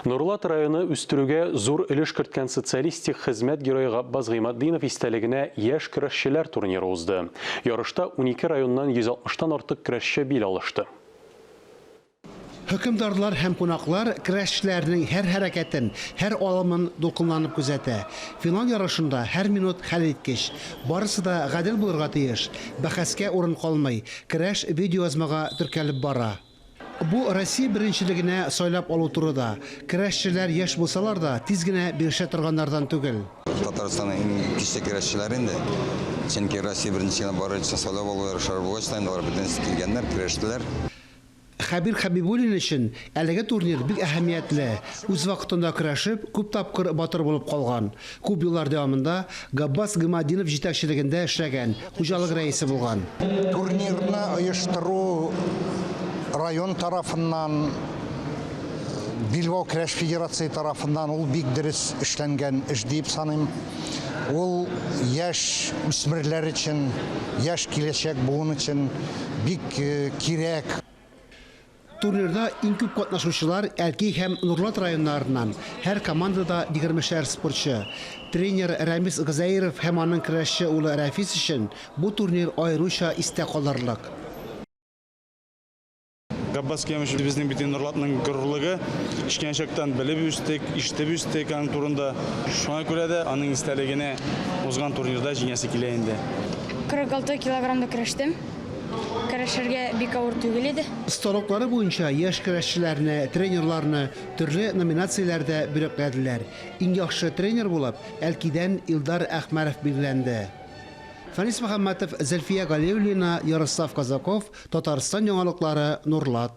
Нурлат районы үстерүгә зур өлеш керткән социалистик хезмәт герое Габбас Гыйматдинов истәлегенә яшь көрәшчеләр турниры узды. Ярышта унике районнан 160 тан артык көрәшче бил алышты. Хөкемдарлар һәм кунаклар көрәшчеләрнең һәр хәрәкәтен, һәр алымын дулкынланып күзәтә. Финал ярышында һәр минут хәлиткеч. Барысы да гадел булырга тиеш, бәхәскә урын калмый, көрәш видеоязмага теркәлеп бара. Бу Россия беренчелегенә сайлап алу туры да. Керәшчеләр яшь булсалар да, тиз генә бирешә торганнардан түгел. Татарстанның иң кече керәшчеләре инде. Чөнки Россия беренчелегенә барыр өчен сайлап алу ярышлары булгач та инде алар бөтенесе килгәннәр, керәштеләр. Хәбир Хәбибуллин өчен әлеге турнир бик әһәмиятле. Үз вакытында көрәшеп, күп тапкыр батыр булып калган. Күп еллар дәвамында Габбас Гыйматдинов җитәкчелегендә эшләгән, хуҗалык рәисе булган. Турнирны оештыру район тарафыннан, Билбау көрәш федерацие тарафыннан ул бик дөрес эшләнгән эш диеп саныйм. Ул яшь үсмерләр өчен, яшь киләчәк буын өчен бик кирәк. Турнирда иң күп катнашучылар Әлки һәм Нурлат районнарыннан, һәр командада егермешәр спортчы. Тренер Рәмис Гозәеров һәм аның көрәшче улы Рәфис өчен бу турнир аеруча истә калырлык. Габбас Кемыч безнең бит инде Норлатның горурлыгы. Кечкенә чактан белеп үстек, ишетеп үстек аның турында. Шуңа күрә дә аның истәлегенә узган турнирда җиңәсе килә инде. 46 килограммда көрәштем. Көрәшергә бик авыр түгел иде. Осталыклары буенча яшь көрәшчеләрне, тренерларны төрле номинацияләрдә бүләкләделәр. Иң яхшы тренер булып Әлкидән Илдар Әхмәров билгеләнде. Фәнис Мөхәммәтов, Зөлфия Галиуллина, Ярослав Казаков, Татарстан яңалыклары, Нурлат.